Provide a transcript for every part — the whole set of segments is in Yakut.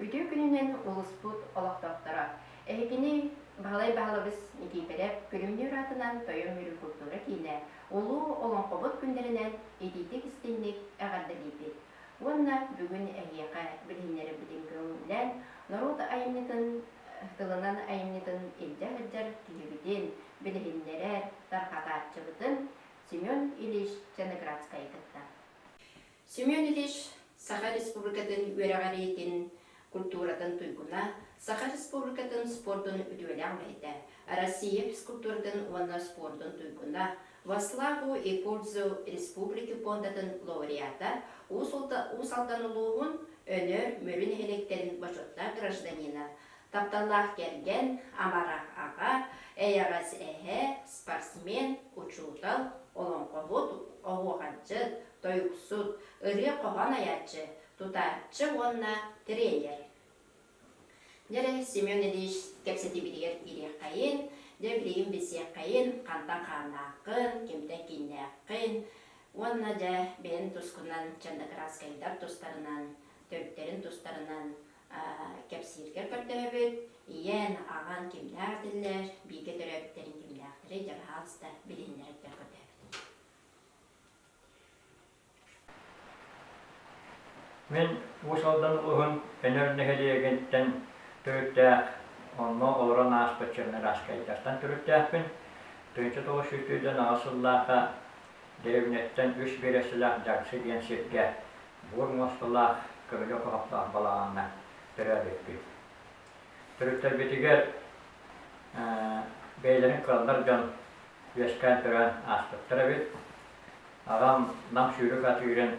Үтүө күнүнэн улууспут олохтохторо! Эһитини Баһылай Баһылабыс Никиипэрэп күрүөнүөр аатынан тойон-мүрү култуура киинэ Улуу олоҥхобут күннэринэн итиитик-истиҥник эҕэрдэлиибит уонна бүгүн эһиэхэ билиһиннэрэрбитин көҥүллээн норуот айымньытын тылынан айымньытын илдьэ сылдьар киһибитин билиһиннэрэр тарҕатааччыбытын Семен Ильич Чанеградскайы кытта Семен Ильич Саха Республикатын үөрэҕэр ийэтин культуратын туйгуна, Саха Республикатын спордун үтүөлээх үлэһитэ, Россия физкультуратын уонна спордун туйгуна, Ваславу и Пурдзу республики пуондатын лауреата, Уус Алдан улууһун Өнөр Мүрү нэһилиэктэрин бочуоттаах гражданина, тапталлаах кэргэн, амара аҕа, эйэҕэс эһэ, спортсмен, учуутал, олоҥхоһут, оһуохайдьыт, тойуксут, ырыа хоһоон айааччы, тутааччы уонна тириэйэр. Дьэрэ Семен Ильич кэпсэтиибитигэр ириэххэйин, дьэ билигин билсиэххэйин, хантан хааннааххын, кимтэн кииннээххин уонна дьэ бэйэҥ тускунан чандакраскайдар тустарынан, төрүттэрин тустарынан кэпсииргэр көрдөһөбүт. Ийэн, аҕаҥ кимнээх этиллэр, бииргэ төрөөбүттэрин кимнээхтэрий дьадаһаалыста билиһиннэрэргэр көрдөһөбүт. Мин Уус Алдан улууһун Өнөр нэһилиэгиттэн төрүттээх, онно олорон ааспыт сирим Ираскайдартан төрүттээхпин. Тыынча тоҕус сүүрдүүрдэн аҕыс сыллаахха деревняттан үс биэрэстэлээх Дьарксы диэн сиргэ буор муосталаах көмүлүөк оһохтоох балаҕаҥҥа төрөөбүппүт. Төрүттэрбитигэр бэйэлэрин кыаллар дьон үөскээн туран ааспыттар эбит. Аҕам нам сүүрүк атыырын,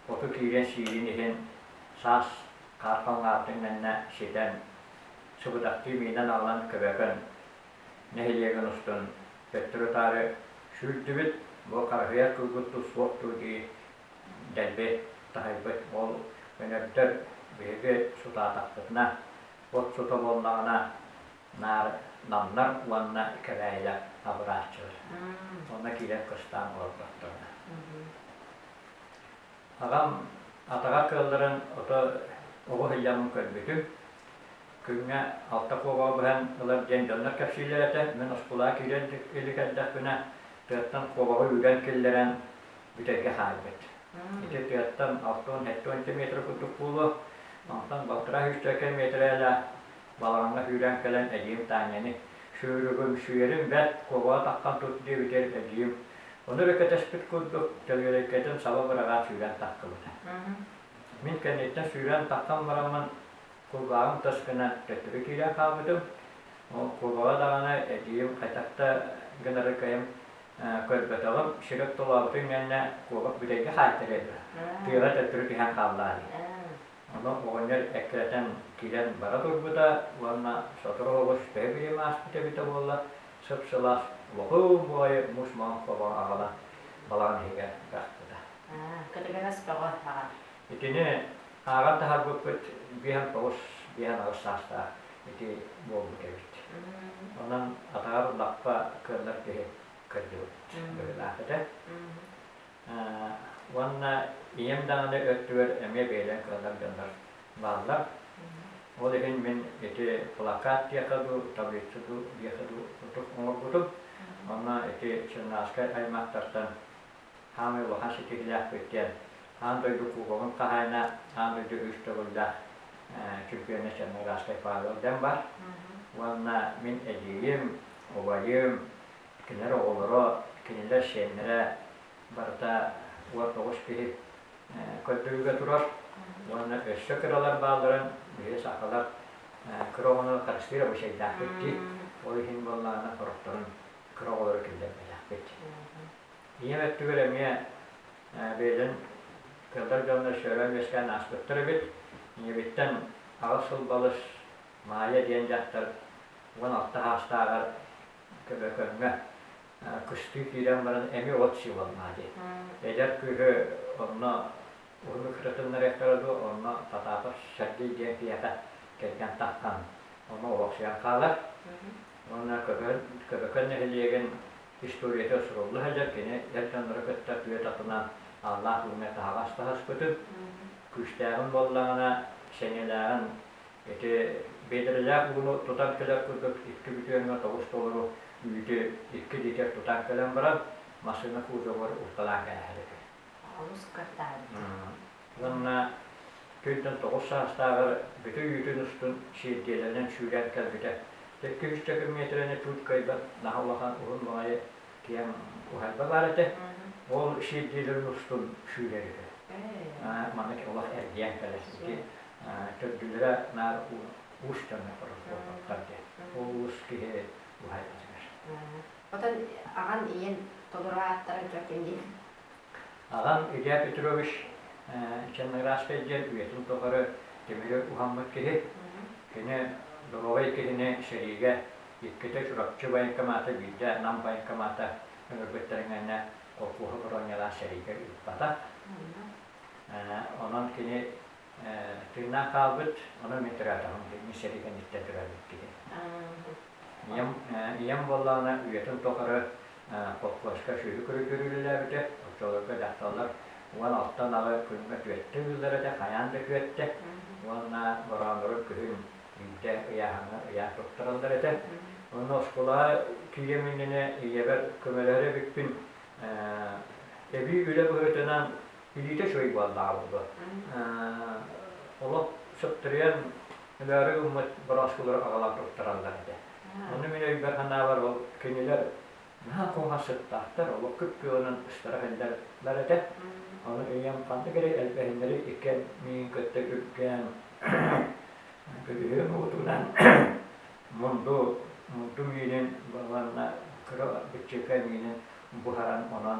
оту киирэн сиирин иһин саас хаархан аартыҥнанна ситэн, субудактыы миинэн аҕалан көбөкөн нэһилиэгин устун төттөрү-таары сүүрдүбүт, бу хараһыйар кылгыттуу суох дуу дии дэлби таһыйбыт уол өнөрдөр биһиги сутаатахпытына, от сута буоллаҕына наар намнар уонна кэбээйилэр абырааччылар уонна киирэн кыстаан олорботторуна. Ағам атаҕа кыалларын ото оҕу ыйамын көрбүтүм. Күҥҥэ алта куоҕаҕа быһан ылар диэн дьоннор кэпсиилэр этэ. Мин оскулаа киирэн илик эрдэхпинэ, тыаттан куоҕаҕы үүрэн киллэрэн, бүтэргэ хаалбыт. Ити тыаттан алта уон сэттэ уонча метр курдук буолуо. Онтон балтараа сүүсчэкэ миэтэрээлээх балаҕаҥҥа сүүрэн кэлэн эдьиим Таанньаны сүүрүгүм, сүөрүм бэрт, куобаҕа таххан тут диэбитигэр эдьиийим ону эрэ кэтэспит курдук, төлүөрэйкэтин саба быраҕаат сүүрэн тахсыбыта. Мин кэнниттэн сүүрэн таххан бараммын кулгааҕым тас гынан төттөрү киирэн хаалбытым. Ол куобаҕа даҕаны эдьиийим хайдах да гынары кыайым көрбөтөҕүм, Серёг Толообутуй миэннэ куобах бүтэйгэ хаайтарыата, тыаҕа төттөрү түһэн хааллаҕа дии. Ону оҕонньор эккирэтэн киирэн бара турбута уонна сотору оҕус төһө билим ааспыт эбитэ буоллар, сып-сылаас лохуум баҕайы мус маҥан хобоҕо аҕала балаҕан иһигэр бырахпыта. Көтүлэҥэс бөҕө аҕам. Итини ааҕан таһаарбыппыт биэһин тоҕус биэһин аҕыс саастаах ити буолбут эбит. Онон атаҕар лаппа кыаллар киһи кырдьыбыт быһыылаах этэ. Уонна ийэм даҕаны өттүгэр эмиэ бэйэлэрин кыаллар дьоннор бааллар. Ол иһин мин ити плакат диэхэ дуу, таблица дуу диэхэ дуу отук оҥорбутум. Онно ити сыаннааскай аймахтартан Саамай улахан ситиһиилээхпит диэн аан дойду кубогун хаһаайына, аан дойду үс төгүллээх чемпиона Черноградскай Павел Дэн бар. Уонна мин эдьиийим, убайым, кинилэр оҕолоро, кинилэр сиэннэрэ барыта уон тоҕус киһи көрдөрүүгэ турар. Уонна өссө кыралар баалларын биһиги сахалар кыра оҕону харыстыыр абыйсайдаахпыт дии. Ол иһин буоллаҕына хорохторун кыра оҕолору киллэрбэтэхпит. ийэм өттүгэр эмиэ бэйэтин кыыллар дьонно сөрөөн-үөскээн ааспыттар эбит. Ийэбиттэн аҕыс сыл балыс Маайа диэн дьахтар уон алта саастааҕар көбөкөҥҥө кыстыы киирэн баран эми от сыылаллаа диэн. Эдэр кыыһы онно уһуннук кытыннарыахтара дуо, онно Потапов Сергей диэн киһиэхэ кэргэн таххан ону олохсуйан хаалар. Уонна Көбөкөн нэһилиэгин Историята сурулла сылдьар, кини дьар-дьоннору кытта тыа татынан ааллаах үүммэт таһаҕас таһыспытын, күүстээҕин буоллаҕына, сэниэлээҕин, ити бедрэлээх ууну тутан кэлэр курдук икки бүтүөҥҥэ тоҕус толору үүтү икки литр тутан кэлэн баран, массыына кузовар усталаан кэбиһэр этэ. Олус кырдаһарбыт. Уонна күнтэн тоҕус саастааҕар бүтү үүтүн устун сиэрдийэлэринэн сүүрэн кэлбитэ. Икки-үс төкүн миэтэрэни тууткайбар наһаа улахан уһун маҕайы тиһэн уһайба баар этэ. Ол сиэрдийэлэрин устун сүүрэр үһү. Маннык олох эргийэн кэлэр. Ити төрдүлэрэ наар уус дьоно олохтоохтор диэн. Ол уус киһи уһайбатыгар. Оттон аҕам ийэм толору ааттарын көрдүм дии. Аҕам Илья Петрович Чанныгырааскай диэн үйэтин тухары Тимири уһаммыт киһи. Кини доруобай киһини сэриигэ иккитэ Чурапчы военкомата, биирдэ Нам военкомата ыҥырбыттарын кэннэ холкуоһу боруонньалаан сэриигэ ыыппата. Онон кини тыыннаах хаалбыт, ону мин тыраатаҕым, Ильмир Шерифин истэ турарбыт кини. Ийэм, ийэм буоллаҕына үйэтин тухары колхозка сүүрүк-күрүк үрүүлэлээбитэ, оччолорго дьахталлар уон алта ынаҕы күҥҥэ түөртэ ыыллара этэ, хайаан да күөттэ. Уонна бороонурун күһүн илдьэ ыйааһыҥҥа ыйаан туттараллар этэ. Онно оскуолаҕа тиийэм иннинэ ийэбэр көмөлөһөр эбиппин, эбии үлэ быһыытынан Бүлүүтэ үчүгэй буоллаҕа олох сөптөрүөн өлөөрү гыммыт бырааскылары аҕалан туттараллар этэ. Ону мин өйбөр-санаабар ол кинилэр наһаа куһаҕассыттаахтар, олох кып-күөҕүнэн ыстара сылдьаллар этэ. Ону өйүм ханнык эрэ элбэһиннэри иккиэн миин кытта үргээн көдүһүөм уотунан мунду мунду миинин уонна кыра быччыка миинин буһаран онон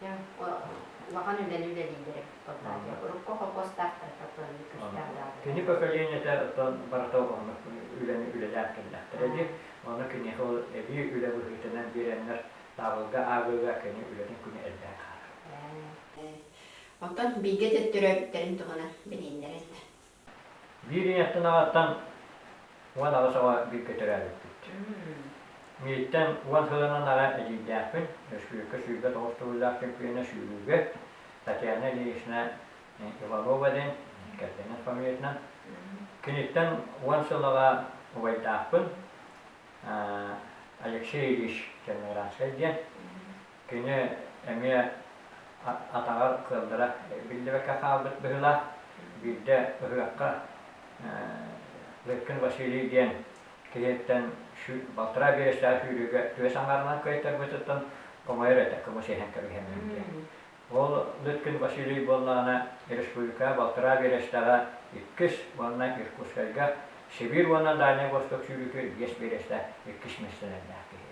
Дьэ, улахан үлэни үлэлииллэрэ. Урукку холкуостаахтара тохтооннук кырсыктаатаҕа. Кини поколениета оттон барыта оҕолорун үлэни үлэлээх кэллэхтэрэ дии. Ону киниэхэ ол эбии үлэ быһыытынан биэрэннэр, таабылга ааҕыыга кини үлэтин күнэ элбээн хаалар. Оттон бииргэ төттөрөөбүттэрин туһунан билииллэрэ да. Биир ийэ аттынаҕаттан уон аҕыс оҕо бииргэ төрөөбүппүт. Мииттэн уон сылынан аҕа эдьиийдээхпин. Өрөспүүбүлүкэ сүүрбэ тоҕус төгүллээх чөмпүйүөнэ сүүрүүгэ Татьяна Ильинична Иванова диэн кэргэнин фамилиятынан. Киниттэн уон сыл аҕа убайдаахпын Алексей Ильич Черноградскай диэн. Кини эмиэ атаҕар кыаллара биллибэккэ хаалбыт быһыылаах. Биирдэ ыһыахха Лыткин Василий диэн киһиттэн балтараа биэрэстээх сүүрүүгэ түөс аҥаарынан кыайтарбытыттан хомойор этэ кыбыс-иһэн кэбиһэммин диэн. Ол Лыткин Василий буоллаҕына республика балтараа биэрэстээҕэ иккис уонна Иркутскайга Сибиир уонна Дальнай Восток сүүрүүтэ биэс биэрэстээх иккис миэстэлэрдээх киһи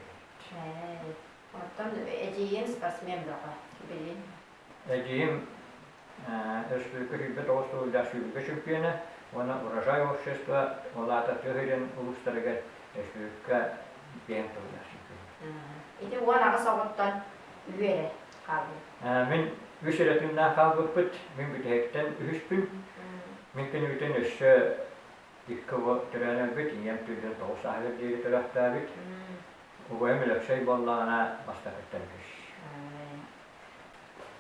эбит. Оттон эдьиийим спортсмен бөҕө, билин. Эдьиийим өрөспүүбүлүкэ сүүрбэ тоҕус сыллаах сүүрбэ чөмпүйүөнэ уонна Урожай общество, ол аата тыа сирин улуустарыгар өрөспүүбүлүкэ киэҥ тыллар Ити уон аҕыс оҕоттон үһү эрэ хаалбыт. Мин үс эрэ тыыннаах хаалбыппыт. Мин бүтэһиктэн үһүспүн. Мин күнүбүтүн өссө икки оҕо төрөөн өлбүт, ийэм түллэн тоҕус сааһыгар диэри төрөхтөөбүт. Убайым Өлөксөй буоллаҕына, бастакыттан үһүс.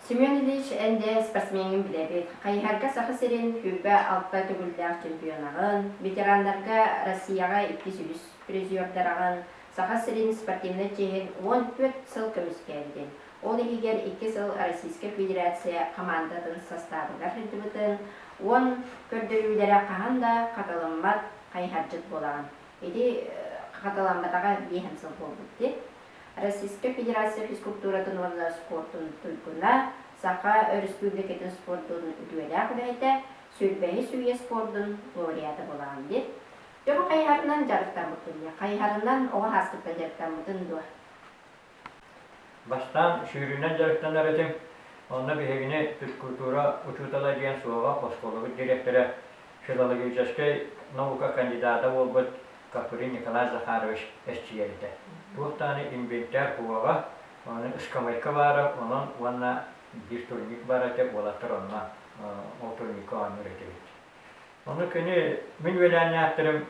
Семен Ильич, эн дьэ спортсмеҥҥын билэбит. Хайыһарга Саха сирин сүүрбэ-алта төгүллээх чемпионаҕын, ветераннарга Россияҕа иккис үһүс призердараҕын, Саха сирин спортивнай чиэһин уон түөрт сыл көмүскээбитин, ол иһигэр икки сыл Российскай Федерация хамаандатын састаабыгар сылдьыбытын уон көрдөрүүлэрэ хаһан да хатыламмат хайыһардьыт буолаҕын. Ити хатыламматаҕа биэс эмэ сыл буолбут дии. Российскай Федерация физкултууратын уонна спортун туйгуна, Саха Өрөспүүбүлүкэтин спордун үтүөлээх үлэһитэ, сүүрбэһис үйэ спордун лауреата буолаҕын дии. Дьону хайыһарынан дьарыктаммыккын дии. Хайыһарынан оҕо сааскыттан дьарыктаммытын дуо? Бастаан сүүрүүнэн дьарыктанар этим. Онно биһигини физкультура учуутала диэн суоҕа оскуолабыт дириэктэрэ, филологическай наука кандидата буолбут Капырин Николай Захарович эрчийэр Туох даҕаны инвентарь уоҕа, ону ыскамыайка баара, онон уонна биир турник баар этэ, уолаттар онно ол турникка оонньуур этибит. Ону кини, мин үөлээннээхтэрим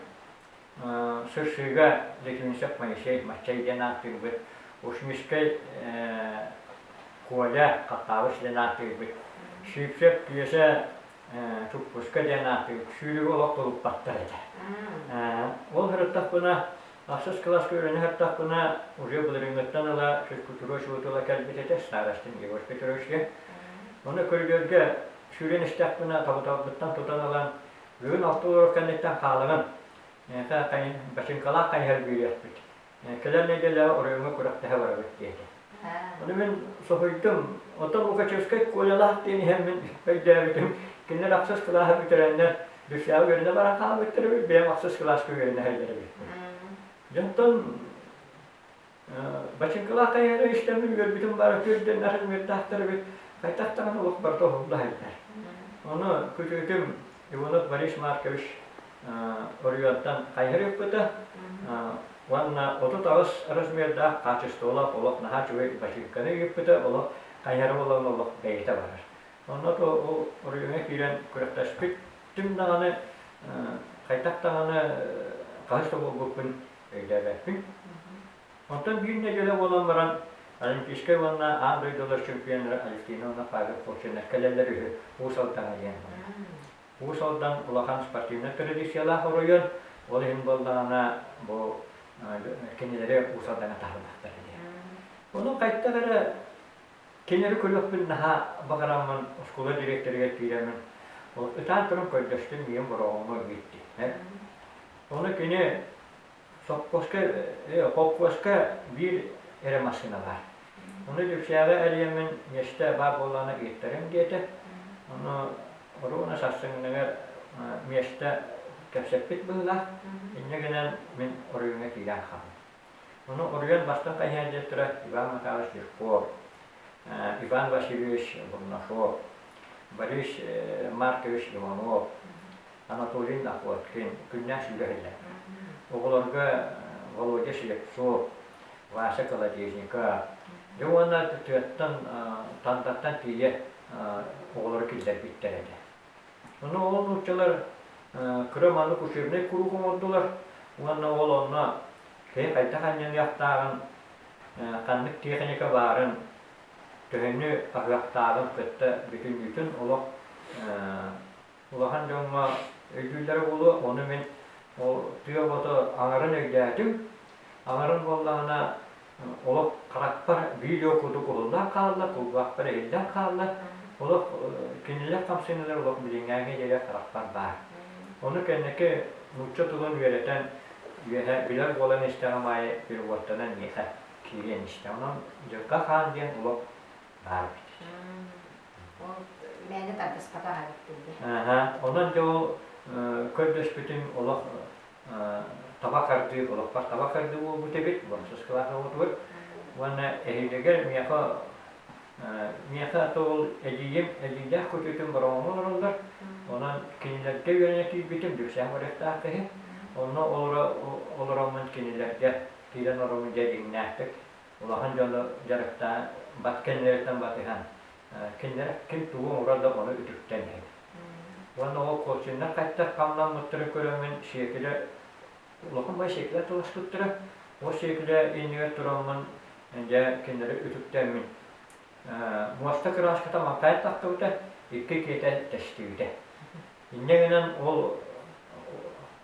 Сырсыыга Летунисов Моисей Маччай диэн ааттыырбыт, Ушмискай Коля Хохтаабыс диэн ааттыырбыт, Сиипсэп Түөсэ Туппуска диэн ааттыырбыт, сүүрүгү олох тулуппаттар этэ. Ол сырыттахпына, ахсыс кылааска үөрэнэ сырыттахпына, уже былырыыҥҥыттан ыла Кутуруч уу тула кэлбит этэ, старостым Егор Петровичка. Ону көрдөргө сүүрэн истэхпинэ, тобуталбыттан тутан ылан, Бүгүн алта уол кэнниттэн хаалаҕын. Миэхэ бачыҥкалаах хайыһар бүрүйэхпит. Кэлэр нэдиэлэҕэ оройуоҥҥа күрэхтэһэ барабыт диэтэ. Ону мин соһуйдум. Оттон Лукачевскай Колялаах диэн иһэммин өйдөөбүтүм. Кинилэр ахсыс кылааһы бүтэрэннэр Дүссээҕи үөрэнэ баран хаалбыттар эбит, бэйэм ахсыс кылааска үөрэнэ сылдьар эбиппин. Дьонтон Бачыҥкалаах тайаары истэбин үөрбүтүм баара күөрдэннэр үөрдэхтэрбит хайдахтарына от барда оһуллаһайдар. Ону күтүөтүм Иванов Борис Маркович оройуонтан хайырыппыта уонна отут аҕыс размердаах хаачыстыбалаах олох наһаа үчүгэй бачыыҥканы ыыппыта олох хайара болон олох бэйэтэ барар. Онно ол оройуоҥҥа киирэн күрэхтэспит түм даҕаны хайдах даҕаны хаһыс да буолбуппун өйдөөбөппүн. Оттон биир нэдиэлэ буолан баран, Олимпийскай уонна аан дойдулар чемпионнара Алевтиновна Павел-Колченов кэлэллэр үһү Уус Алдаҥа диэн. Уус Алдан улахан спортивнай традициялаах оройуон, ол иһин буоллаҕына бу кинилэри Уус Алдаҥа таһырбахтар диэн. Ону хайдах эрэ Кини эрэ көрүөхпүн наһаа баҕараммын, оскуола дириэктэригэр киирэммин, ытаан туран көрдөстүм, ийэм бороҕоҥҥо биэрдэ. Ону кини сопхуоска, холкуоска биир эрэ массыына баар. Ону Дьүксээҕи эрийэммин миэстэ баар буоллаҕына ыыттарыҥ диэтэ. Ону Оруона сарсыҥҥыгар миэстэ кэпсэппит быһыылаах. Инньэ гынан мин оройуоҥҥа киирэн хааллым. Ону уруйан бастыҥ хайыһардьыттара Иван Макарович Легков, Иван Васильевич Бурнашов, Борис Маркович Иванов, Анатолий Находкин күннээн сүгэһиллэр. Оҕолорго Володя Слепцов, Вася Колодезников, дьэ уонна тыаттан, Тандаттан тиийэ оҕолору киллэрбиттэр этэ. Ону ол нууччалар кыра маннык учебнай куруук оҥордулар уонна ол онно киһи хайдах анньыныахтааҕын, ханнык тиэхиньикэ баарын, төһөнү аһыахтааҕын кытта бүтүннүүтүн олох улахан дьоҥҥо өйдүүллэрэ буолуо. Ону мин ол тыа оҕото аҥарын өйдөөтүм. Аҥарын буоллаҕына Олох харахпар видео курдук уһуллан хааллар, куллуахпар иһиллэн хааллар. Олох кинилэр хамсаныылар олох билиҥҥээҥҥи дьиэгэ харахпар баар. Ону кэнники нуучча тылын үөрэтэн, үөһэ билэр буолан истэҕим аайы переводтанан миэхэ киириэн истэ. Онон Дьылга хаан диэн олох баар эбит. Ол мээнэ тарбыспатах эбиппин дии. Онон дьэ ол көрдөспүтүм олох таба хардыы олохпор таба хардыы буолбут эбит бонсускалаах оҕотугар уонна эһиилигэр миэхэ миэхэ тоол эдьиийим эдьиийдээх көтүтүн бороҥоҥҥо олороллор онон кинилэргэ үөрэнэ киирбитим Лүксээн Морьевтаахха иһин онно олоро олороммун кинилэргэ киирэн олороммун дьэ дьиҥнээхтик улахан дьону дьарыктаан бат кэннилэриттэн батыһан кинилэр ким тугу оҥорор да ону үтүктэн иһин. Уонна ол костюмнар хайдах хамнаммыттарын көрөммүн сиэкилэ улаханбай сиэкилэ тунаспыттара. Ол сиэкилэ иннигэр тураммын дьэ кинилэри үтүктэммин муоста кыраныската мантайан тахтыбыта, икки киэтэ тэстибитэ. Инньэ гынан ол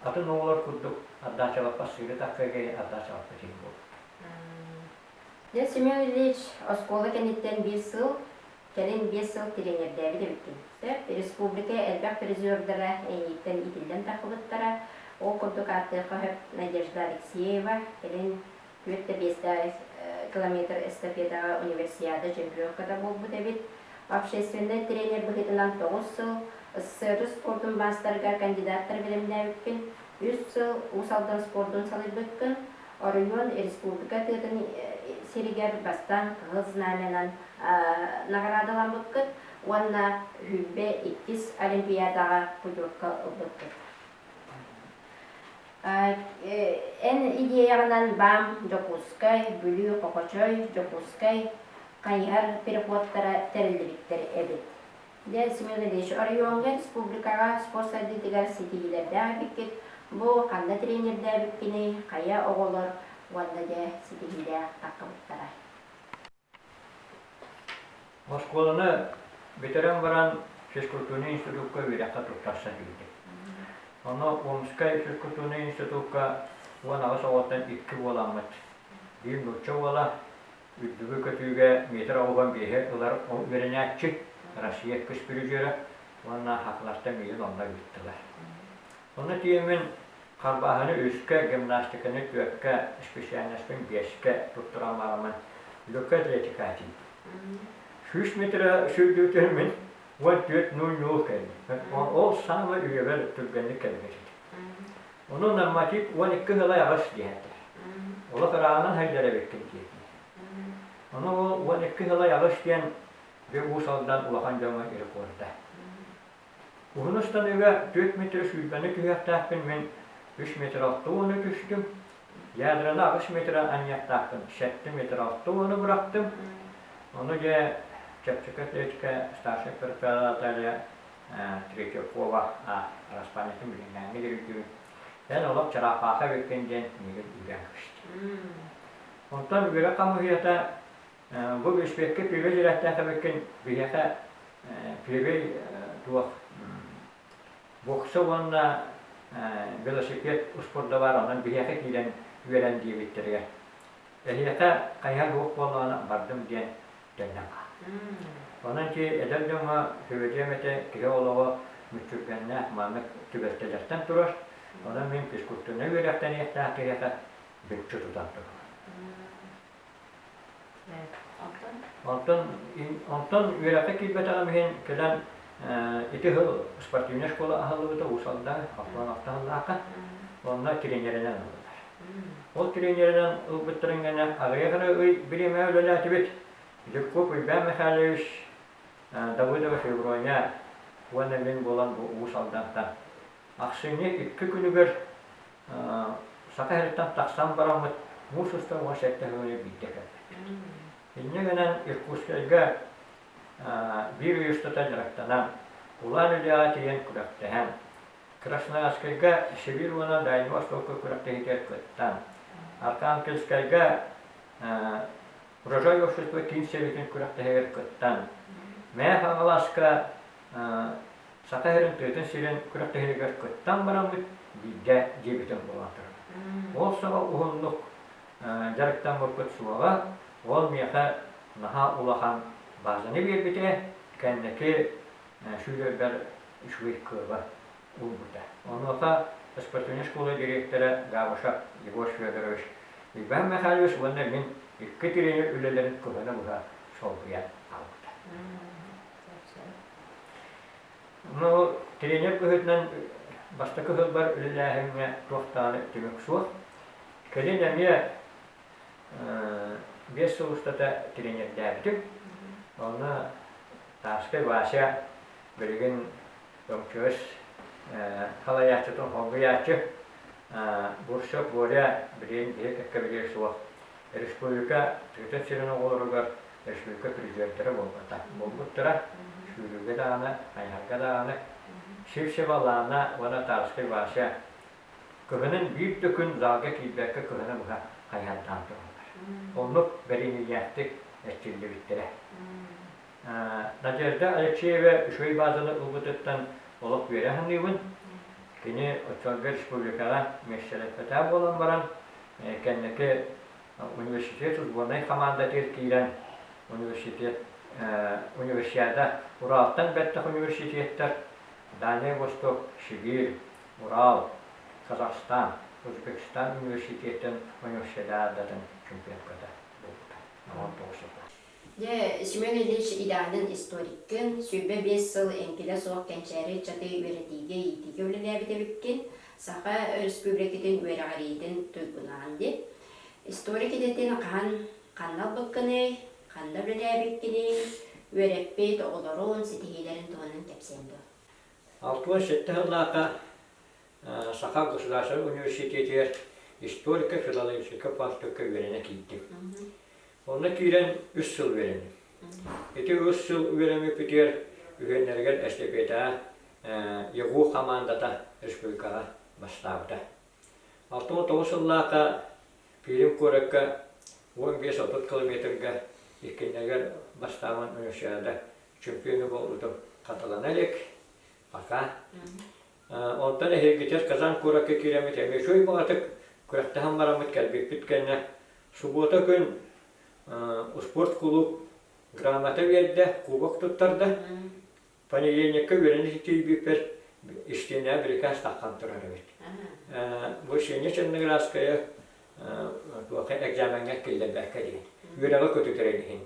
атын оҕолор курдук ардаачалаппа сыыры таккыга ардаачалаппа тиһи буолбут. Дьэ, Семен Ильич оскуола кэнниттэн биир сыл, кэлин биэс сыл тренердээбит эбиппиттэр. Республика элбэх призердара эйииттэн иитиллэн тахсыбыттара. Ол курдук ааттыахха сөп Надежда Алексеева, кэлин түөрт да биэстээх километр эстафетаҕа универсиада чемпионката буолбут эбит. Общественнай тренер быһыытынан тоҕус сыл СССР спортун маастарга кандидаттар бэлэмнээбиппин, үс сыл Уус Алдан спордун салайбыккын, Оройуон, республика тыатын сиригэр бастаан Кыһыл Знамянан наҕараадаламмыккыт уонна сүүрбэ иккис Олимпиадаҕа путевка ылбыккыт. Эн идеяҕынан БАМ, Дьокуускай, Бүлүү, Хохочой, Дьокуускай хайыһар переходтара тэриллибиттэр эбит. Дьэ, Семенович, оройуоҥҥа, республикаҕа спорт сайдыытыгар ситиһиилэрдээх эбиккит, бу ханна тренердээбиккиний, хайа оҕолор уонна дьэ ситиһиилээх таххыбыттара? Оскуоланы бүтэрэн баран физкультурнай институкка үөрэххэ туттарса киирдим. Ону Омскай физкультурнай институкка уон аҕыс оҕоттон икки уоламмыт. Биир нуучча уола, Үрдүгү көтүүгэ метр оҕуһун биэһи ылар ол үөрэнээччи, Россия көспүрүдьүөрэ уонна ХАК-лартан миилин онно ыыттылар. Ону тиэмин харбааһыны үскэ, гимнастиканы түөркэ, исписээннэспин биэскэ туттуран бараммын, Люка Атлетика этим. Сүүс метрэ сүүрдүүтүн мин уон түөрт нуунньуул кэллим. Ол саамай үйэбэр түргэнник кэлбит этим. Ону норматив уон икки ыһылай аҕыс диэхтэр. Олох ырааҕынан сылдьар эбиккин диэтилэр. Ону ол уон икки ыһылай аҕыс диэн Бүк-Уус Алдан улахан дьоҥҥо рекорда. Уһун устаныга түөрт метр сүүрбэни түһүөхтээхпин мин үс метр алта уону түстүм. Ядраны аҕыс метры анньыахтаахпын сэттэ метр алта уону бырахтым. Ону дьэ чэпчэки атлетика старшай протоколе Третьякова араспаанньатын билиҥҥээҥҥи дойдуун эн олох Чараапаха эбиккин диэн кинигэ үүрээн көрүстүм. Онтон үөрэх хамыыһыйата бу бүспүөккэ первый директордаах эбиккин биһиэхэ первый туох бокса уонна велосипед успурда баар онон биһиэхэ киирэн үөрэн диэбиттэригэр эһиэхэ хайыһа туох буоллаҕына бардым диэн кэллэххэ. Онон ити эдэр дьоҥҥо сөбүлүөм этэ, киһи олоҕо мүччүргэннээх, маннык түбэлтэлэртэн турар. Онон мин физкультурнай үөрэхтэниэхтээх киһиэхэ бүччү тутан турабын. Онтон онтон үөрэххэ киирбэтэҕим иһин кэлэн ити сыл спортивнай школа аһыллыбыта Уус Алдаҥа, Охтоон Охтоһуннаахха. Онно тренеринэн ыллылар. Ол тренеринэн ылбыттарын кэннэ аҕыйах эрэ ый бириэмэ үлэлээтибит. Дьуккуп Уйбаан Михайлович, Давыдова Февроня уонна мин буолан бу Уус Алдантан. Ахсынньы икки күнүгэр Саха сириттэн тахсан бараммыт муус устар уон сэттэ сылыгар биирдэ кэлбит. Инньэ гынан Иркутскайга биир ый устата дьарыктанан, кулаан үлэҕэ тиийэн күрэхтэһэн, Красноярскайга Сибирь уонна Дальнай Востокка күрэхтэһиитигэр кыттан, Архангельскайга Урожай общество киин сэбиэтин күрэхтэһигэр кыттан, Мээх-Аҕаласка Саха сирин тыатын сирин күрэхтэһиигэр кыттан бараммыт биирдэ дьиэбитин булан турабыт. Ол саҕа уһуннук дьарыктаммыппыт суоҕа, ол миэхэ наһаа улахан базаны биэрбитэ, кэнники сүүрэрбэр үчүгэй кыаба ылбыта. Онуоха спортивнай школа дириэктэрэ Габышев Егор Федорович Иван Михайлович уонна мин икки тренер үлэлэрин кыһана быһа солбуйан аҕалбыта. Ну, тренер быһыытынан бастакы сылбар үлэлээһиҥҥэ туохтааны түмүк суох. Кэлин эмиэ э, биэс сыл устата тренердээбитим. Онно Савскай Вася билигин өҥчүөс халайааччытын холбуйааччы, Бурцев Боря билиэн киһи кэккэбилиэ суох. Республика тыатын сирин оҕолоругар республика президентэри буолбуттара, сүүрүүгэ даҕаны, хайыһарга даҕаны, Сивцева Лана уонна Тарскай Вася Көмөнөн биир да күн залга киирбэккэ кыһаны быһа хайыһардаан тураллар. Оннук бэриниилээхтик эрчиллибиттэрэ. Надежда Алексеева үчүгэй баазаны ылбытыттан олох үөрэ саныыбын. Кини оччолорго республикаҕа мессереппэтаа буолан баран, кэнники университет учбуонай хамаандатыгар киирэн, университет, универсиада Уралтан бэттэх университеттар, Дальнай Восток, Сибиир, Урал, Казахстан, Өзбекстан университетын универсиадатын чемпионката буолбута. Номон тоҕусата. Дьэ, Семен Ильич идеалын историккын, сүүрбэ биэс сыл эҥкилэ суох кэнчээри ыччаты үөрэтиигэ-иитиигэ үлэлээбит эбиккин, Саха Өрөспүүбүлүкэтин үөрэҕириитин туйгунаан дип. Историк идэтин хаһан, ханна ылбыккыный, ханна үлэлээбиккиний, үөрэппит оҕолорун, ситиһиилэрин туһунан кэпсиэм дуо? Алтыан сэттэ сыллааҕыта Саха государственнай университетыгар историко-филологическай факультекка үөрэнэ киирдим. Онно киирэн үс сыл үөрэнним. Ити үс сыл үөрэммиппитигэр үһүөннэригэр эстэпиэтаҕа ЕГУ хамаандата республикаҕа бастаабыта. Алта уон тоҕус сыллааҕыта Пермь куоракка уон биэс отут километрга иккиннэригэр бастааман универсиада чөкүөнү буолбутум хатылана илик пока онтон эһиргитэр казан куоракка киирэммит эмиэ үчүгэй баҕатык күрэхтэһэн бараммыт кэлбиппит кэннэ субуота күн спорт кулууп грамота биэрдэ кубок туттарда понедельникка үөрэнэ тиийбиппэр истиэнэ бирикээс таххан турар эбит вышине черноградская туоха экзаменҥа киллэрбэккэ диэн үөрэҕи көтүтэрин иһин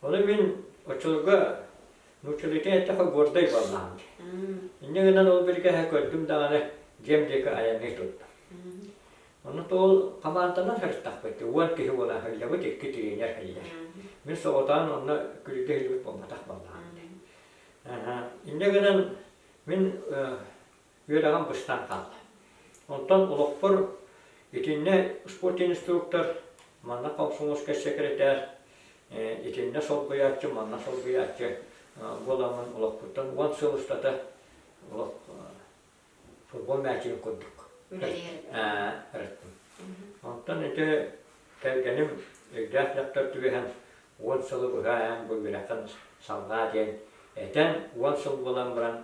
Ону мин оччолорго нууччалыытын эттэхэ гордай буоллаҕым дии. Инньэ гынан ол биргэһэ көрдүм даҕаны дьиэм диэки айанныы турда. Онон ол хамаанданан сырыттахпыт уон киһи буолан сылдьабыт икки тренер иһигэр. Мин соҕотоҕун онно күлүгэ иһиллибит буолбатах буоллаҕым дии. Инньэ гынан мин үөрэҕим быстан хаалла. Онтон олохпор итиннэ спорт инструктор, манна комсомольскай сэкирэтээр, итиннэ солбуйааччы, манна солбуйааччы буоламмын олохпуттан уон сыл устата олох футбол мээчигин курдук ырыттым. Онтон ити кэргэним өйдөөх дьахтар түгэһэн уон сылы быһа эн бу үөрэххин салҕаа диэн этэн уон сыл буолан баран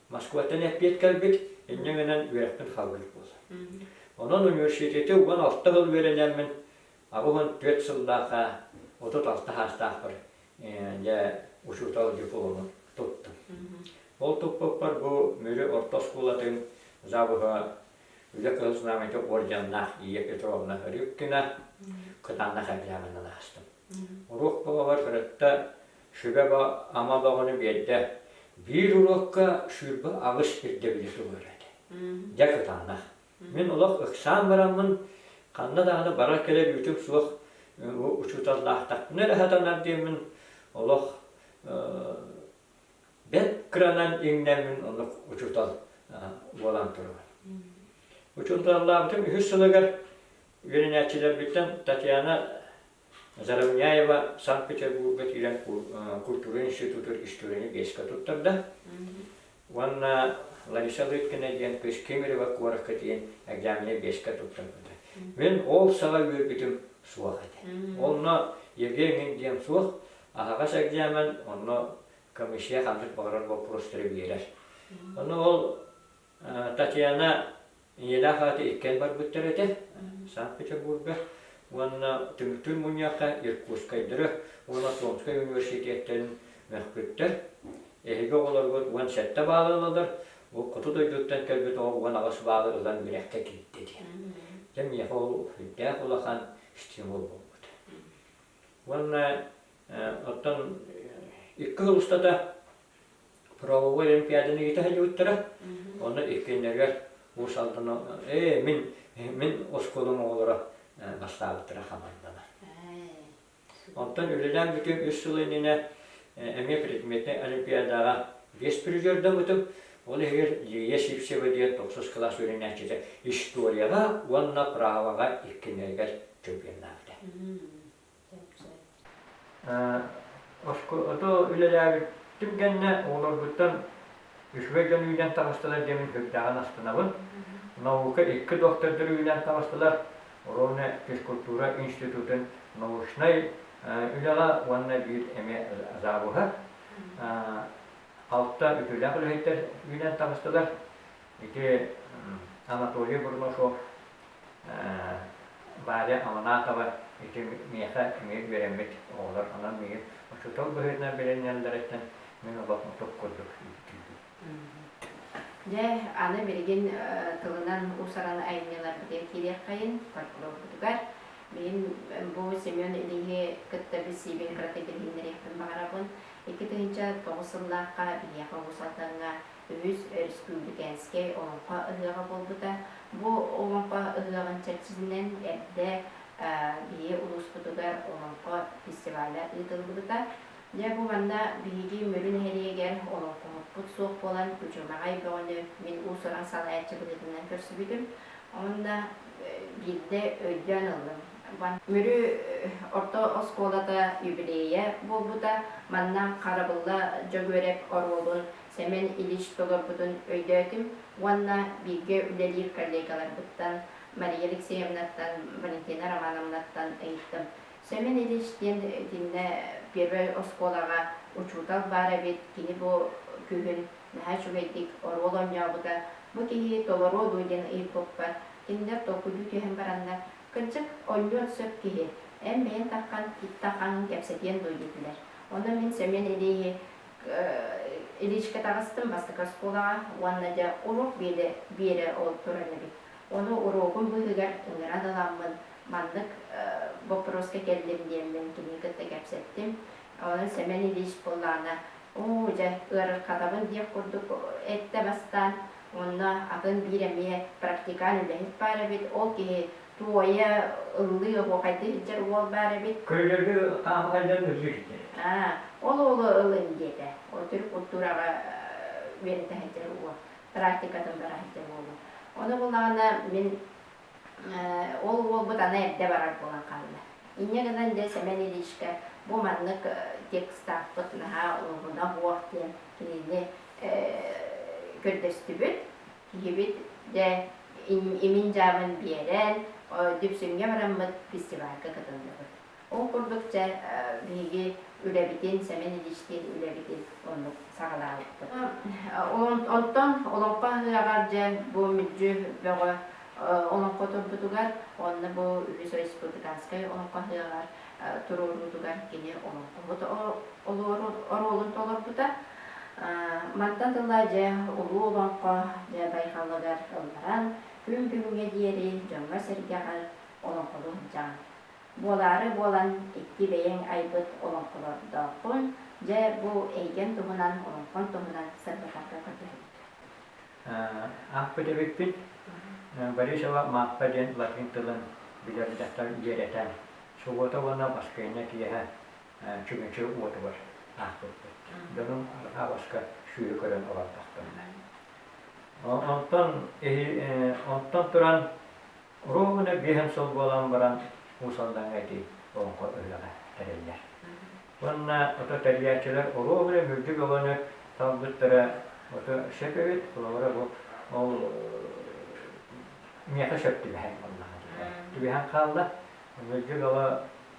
Москваттан эппиэт кэлбит, инньэ гынан үөрэхпин халбыыр буолар. Онон университеты уон алта сыл үөрэнэммин, аҕыс уон түөрт сыллаахха отут алта саастаахпар дьэ учуутал диплому туттум. Ол туппуппар бу Мүрү орто оскуолатын завуһа Үлэ Кыһыл Знамята орденнаах Ия Петровна Рыбкина кытаанах эбээҕинэн аастым. Уруок баҕалар кыратта Шибеба ама бөҕөнү биэрдэ. Биир уруокка ширба аҕыс ирдэбилэ суруйар этэ. Дьэ кытанна. Мин олох ыксаан бараммын, ханна даҕаны барар-кэлэр үүтүм суох, учууталлаахтахпына эрэ сатанар диэммин, олох бэрт кыранан иҥнэммин оннук учуутал буолан турабын. Учууталлаабытым үһүс сылыгар үөрэнээччилэрбиттэн Татьяна Заровняева Санкт-Петербурга киирэн культура институтугар историяны биэскэ туттарда уонна Лариса Лыткина диэн кыс Кемерово куоракка тиийэн экзамены биэскэ туттарбыта. Мин ол саҕа үөрбүтүм суох этэ. Онно Евгений диэн суох аһаҕас экзамен, онно комиссия ханнык баҕарар боппуруостары биэрэр. Ону ол Татьяна ийэлээх ааты иккэн барбыттар этэ, Санкт-Петербурга уонна Тымтыы мунньахха Иркутскайдары уонна Томскай университеттарын мөхпүттэр. Эһиги оҕолоргут уон сэттэ баалы ылалар, бу хоту дойдуттан кэлбит оҕо уон аҕыс баалы ылан үөрэххэ киирдэ дии. Дьэ миэхэ ол үрдээх улахан стимул буолбут. Уонна оттон икки сыл устата правовой олимпиаданы ыыта сылдьыбыттара. Онно иккиннэригэр Уус Алдана «Ээ, мин мин оскуолам оҕолоро бастаабыттара хамандана». Онтон үлэлээн бүтүн үс сыл иннинэ эмиэ предметнай олимпиадаҕа биэс призердаммытым. Ол иһигэр Лия Сивцева диэн тохсус кылаас үөрэнээччитэ историяҕа уонна праваҕа иккиннэригэр чемпионнаабыта. Оскуолата үлэлээбит түргэннэ оҕолорбуттан үчүгэй дьон үүнэн таҕыстылар диэмин көрдөҕөн астынабын. Наука икки доктордор үүнэн таҕыстылар. Ровно физкультура институтун научнай үлэҕэ уонна биир эмиэ завуһа. Алта үтүлээх үлэһиттэр үүнэн таҕыстылар. Ити Анатолий Бурнашов, Варя Аманатова ити миэхэ эмиэ үөрэммит оҕолор. Онон миигин учуутал быһыытынан билиннэллэриттэн мин олохмутук курдук Дьэ, аны билигин тылынан уус-уран айымньыларбытыгар киириэххэйин фольклорбутугар. Билим бу Семен Ильиһи кытта билсиибин кырата кэтэһиннэриэхпин баҕарабын. Икки тыһыынча тоҕус сыллаахха биһиэхэ улуус Алдаҥҥа үһүс Өрөспүүбүкээнскэй Олоҥхо ыһыаҕа буолбута. Бу Олоҥхо ыһыаҕын чэрчитинэн эрдэ Ийэ улууспутугар Олоҥхо фестиваля ыытыллыбыта. Дьэ, бу манна биһиги Мүрү нэһилиэгэр олоҥхоһуппут суох буолан, үчүгэҕэй бөҕөнү мин уус-уран салайааччы быһыытынан көрсүбүтүм. Онно биирдэ өйдөөн ыллым. Мүрү орто оскуолата юбилейа буолбута. Манна харабылла Дьөгүөрэп оруолун Сэмэн Ильич толорбутун өйдөөтүм уонна бииргэ үлэлиир коллегаларбыттан, Мария Алексеевнаттан, Валентина Романовнаттан ыйыттым. Сэмэн Ильич диэн итиннэ первай оскуолаҕа учуутал баар эбит, кини бу күһүн наһаа үчүгэйдик оруол оонньообута, бу киһи толоруо дуу диэн ыйыппыппар, кинилэр толкуйдуу түһэн бараннар, кырдьык, оонньуон сөп киһи, эн бэйэҥ тархан, итта хаҥын кэпсэтиэн дуо диэтилэр. Онон мин Сэмэн Илииһи Илиичкэ таҕыстым бастакы оскуолаҕа уонна дьэ уруок биэдэ биэрэ ол туран эбит. Ону уруогум быыһыгар ыҥыран ыламмын, маннык боппуруоска кэллим диэммин кини кытта кэпсэттим. Онон Сэмэн Ильич былаана Оо, дьэ, ыарырҕатабын диэх курдук эттэ бастаан. Онно атын биир эмиэ практикаль үлэһит баар эбит, ол киһи Туойа ыллыы оһуохайга иһдьэр уол баар эбит. Көйгөргө хаапыкайдан үрдүк ити. Аа, ол уолу ылыҥ, диэтэ. Ол төрүт култуураҕа үөрэтэ сылдьар уол, практикатын бара сылдьар уолу. Ону булаҕына, мин ол уолбут аны эрдэ барар буолан хаалла. Инньэ гынан, дьэ, Сэмэн Ильичкэ бу маннык текстаахпыт наһаа улаҕына оһуох диэн кинини көрдөстүбүт. киһибит дэ имин-дьаамын биэрэн, Дүпсүҥҥэ бараммыт фестивальга кытынныбыт. Ол курдук дьэ биһиги үлэбитин, Сэмэн Ильичтиин үлэбитин оннук саҕалаабыппыт. Онтон Олоҥхо аһыаҕар дьэ бу мүдьү бөҕө олоҥхо турбутугар уонна бу үһүс Республиканскай олоҥхо аһыаҕар туруоруутугар кини олоҥхоһут оруолун толорбута. Мантан тыла дьэ улуу олоҥхо дьэ байҕалыгар ылларан, күн бүгүҥҥэ диэри дьоҥҥо-сэргэҕэ олоҥхолуһдьаҥ. Буолаары буолан икки бэйэҥ айбыт олоҥхолордооххун, дьэ бу эйгэҥ туһунан, олоҥхоҥ туһунан сырдатарга көрдөһөбүт. Аахпыт эбиппит Борисова Маахпа диэн латыын тылын билэр дьахтар үөрэтэн, субуота уонна баскыанньа киэһэ чүмэчи уотугар аахпыппыт. Дьонум арҕаа баска сүөһү көрөн олордохтонно. Онтон онтон туран Куруук үнэ биэһин сыл буолан баран уус-алдаҥҥа ити олоҥхо ыһыаҕа тэриллэр. Уонна ото тэрийээччилэр уруок үнэ үрдүк өҕөнү талбыттара ото сөп эбит, олоҕура бу ол миэхэ сөп түбэһэн буоллаҕа дии. Түбэһэн хаалла. Үрдүк өҕө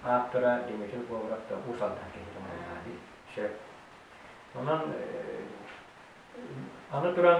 ааптара Дмитрий Говоров да уус-алдан киһитин буоллаҕа дии. Сөп. Онон аны туран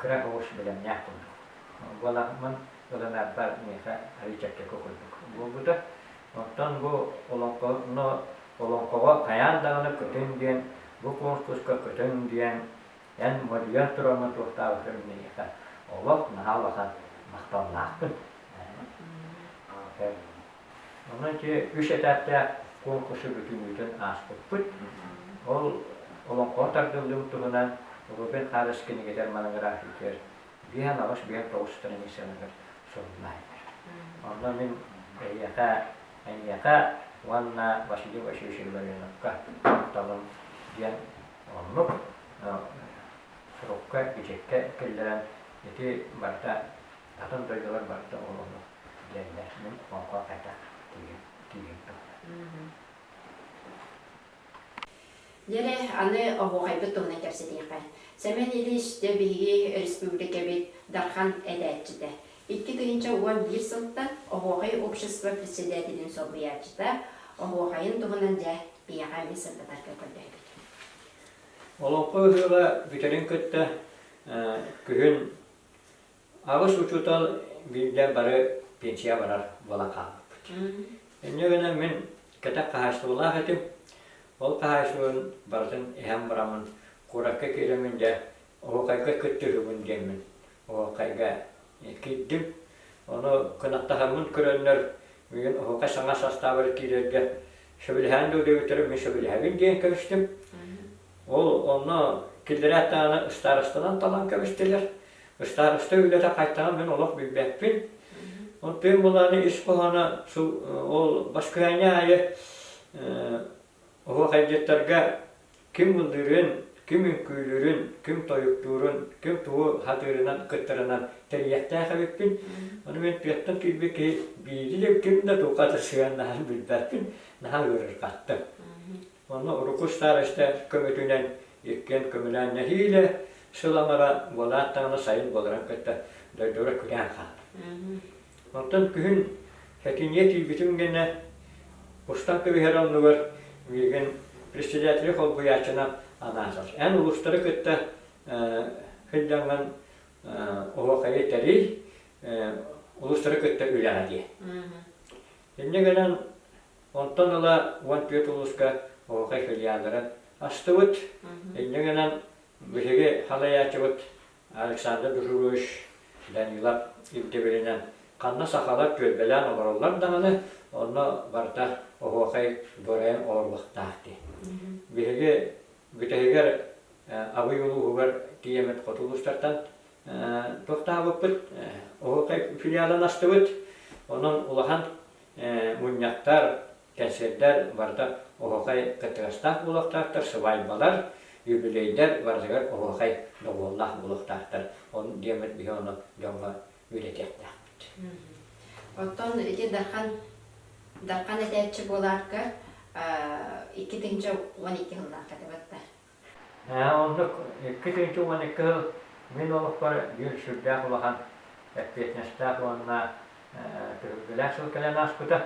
кыра оҕус бэлэмнээх курдук. Буолаҕыммын ылынарбар миэхэ арыый чэпчэки курдук буолбута. Оттон бу олоҥхону олоҥхоҕо хайаан даҕаны көтүҥ диэн, бу куонкуска көтүҥ диэн эн модьуйан тураммын туохтаабытын миэхэ олох наһаа улахан махталлаахпын. Онон ити үс этаптээх куонкуссу бүтүннүүтүн ааспыппыт. Ол олоҥхоҕо тардыллыбыт туһунан Лубин Хаарыс кинигэтэр монографиятыгар биэһэн аҕыс биэһэн тоҕус страницаныгар сурунаайдар. Онно мин эйиэхэ, эйиэхэ уонна Василий Васильевич Илларионовка кутталым диэн оннук сорукка, бичиккэ киллэрэн ити барыта Атын дойдулар барыта оҕолоро диэннэр, мин онко этэх киһим туһунан. Неле, аны оһуохайбыт туһунан кэпсэтиэххэ. Сэмэн Ильич, дьэ биһиги өрөспүүбүлүкэбит Дархан этээччитэ, икки тыһыынча уон биир сылтан Оһуохай общество председателин солбуйааччыта оһуохайын туһунан дьэ биһиэхэ эмиэ сырдатарга көрдөһөбүт. Олоҥхо ыһыаҕа бүтэрин кытта күһүн Аҕыс учуутал биирдэ бары пенсияҕа барар буолан хаалбыппыт. Инньэ гынан мин кэтэх хаһаайыстыбалаах этим. Ол хаһаайыстыбабын барытын иһэн бараммын куоракка киириммин дьэ оһуохайга кыттыһыбын диэммин оһуохайга киирдим. Ону кынаттаһаммын көрөннөр миигин оһуохай саҥа састаабыгар киирэргэ сөбүлэһээн да үдөйбүттэрэ мин сөбүлэһэбин диэн кэбистим. Ол онно киллэрээт даҕаны ыстаарыстанан талан кэбистилэр. Ыстаарыста үлэтэ хайтаҕа мин олох билбэппин. Ол тыын булааны ис хоһооно ол баскыһаанньа аайы оһуох айдьыттарга ким мындыырын, ким үҥкүүлүүрүн, ким тойуктуурун, ким тугу хатыырынан, кыттарынан тэрийиэхтээх эбиппин. Ону мин тыаттан киирбит киһи биири да ким да туохха да сыһыаннаһарын билбэппин, наһаа ыарырҕаттым. Манна урукку староста көмөтүнэн иккиэн көмөлөөн нэһиилэ сыламара буолаат даҕаны сайын буоларан кытта дойдуга күрээн хаалар. Онтон күһүн этиниэ тиийбитим гэнэ устан түһэр оннугар миигин председатель холбуйааччынан анаатар. Эн улустары кытта хылдьаҥҥын оһуокайы тэрий, улустары кытта үлэҕэ дии. Инньэ гынан Онтон ыла уон түөрт улууска оһуохай филиаллара астыбыт. Инньэ гынан биһиги халайааччыбыт Александр Дужурович Данилов ирдэбилинэн ханна сахалар түөлбэлээн олороллор даҕаны, онно барыта оһуохай дуорайан олоруохтаах дии. Биһиги бүтэһигэр Абый улууһугар тиийэммит хоту улуустартан туохтаабыппыт, оһуохай филиалын астыбыт. Онон улахан Мунньахтар, кэнсиэрдэр барыта оһуохай кыттыгастаах буолуохтаахтар, сыбаайбалар, юбилейдар барытыгар оһуохай добуоллаах буолуохтаахтар. Ол диэммит биһи ону дьоҥҥо үөрэтиэхтээхпит. Оттон ити Дархан Дархан этээччи буолаарга икки тыһыынча уон икки сыллаахха табаттар. Ээ, оннук. Икки түүнтү уон икки сыл мин олохпор биир сүрдээх улахан эппиэтинэстээх уонна түһүлгэлээх сыл кэлэн ааспыта.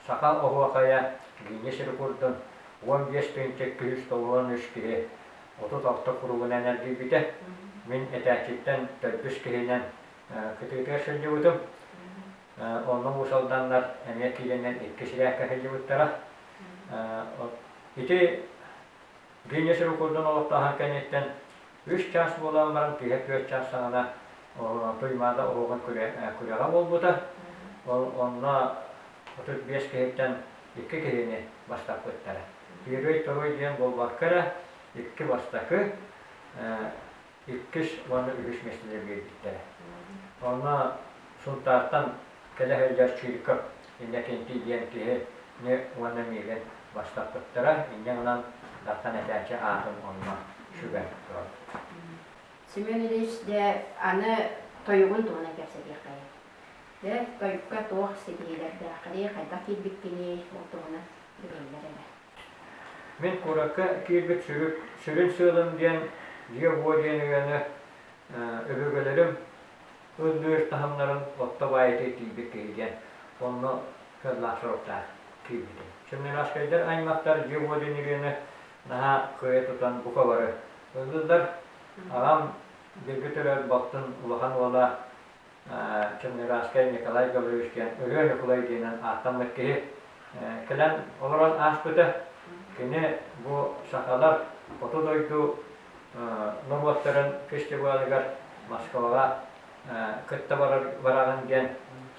Саха оһуохайа Гиннес рекордун уон биэс тыһыынча икки жүз тоҕуруон үс киһи отут алта куругунан эргийбитэ. Мин этээччиттэн төрдүс киһинэн кытыытыгар сылдьыбытым. Онно уус-алданнар эмиэ киирэннэр икки сибээккэ сылдьыбыттара. Ити Гиннесс сирин курдун олохтооһун кэнниттэн үс чаас буолан баран киһи түөрт чаас саҕана Туймаада оһуобун күрэҕэ буолбута. Онно отут биэс киһиттэн икки киһини бастаппыттара. Тыырый-туруй диэн буолбакка эрэ икки бастакы иккис уонна үһүс миэстэлэр биэрбиттэрэ. Онно Сунтаартан кэлэ сылдьар Чирков Иннокентий диэн киһи ми уонна миигин бастаппыттара, инньэ гынан Дархан этээччи аатын онно сүгэн турар. Семен Ильич, дьэ, аны тойугун туһунан кэпсэтиэххэйиҥ. Дьэ, тойукка туох ситиһиилэрдээххиний, хайдах киирбиккиний, ол туһунан билэллэр эрэ. Мин куоракка киирбит сүрүн сыалым диэн дьиэ-уо диэн өйөнө өбүгэлэрим ыл-үөл таһымнарын отто баайытыы тиийбит киһи диэн онно сыаллаах соруктаах киирбитим. Семнарашкайдар аймахтар дьиэ-уо диэн өйөнө наһаа кыайа тутан бука бары ыллылар. Аҕам билби төрөөт балтын улахан уола Коммунарааскай Николай Гаврилович диэн ырыа Ньукулай диэнэн ааттаммыт киһи кэлэн олорон ааспыта. Кини бу сахалар хоту дойду норуоттарын фестивалыгар Москваҕа кытта барар бараҕын диэн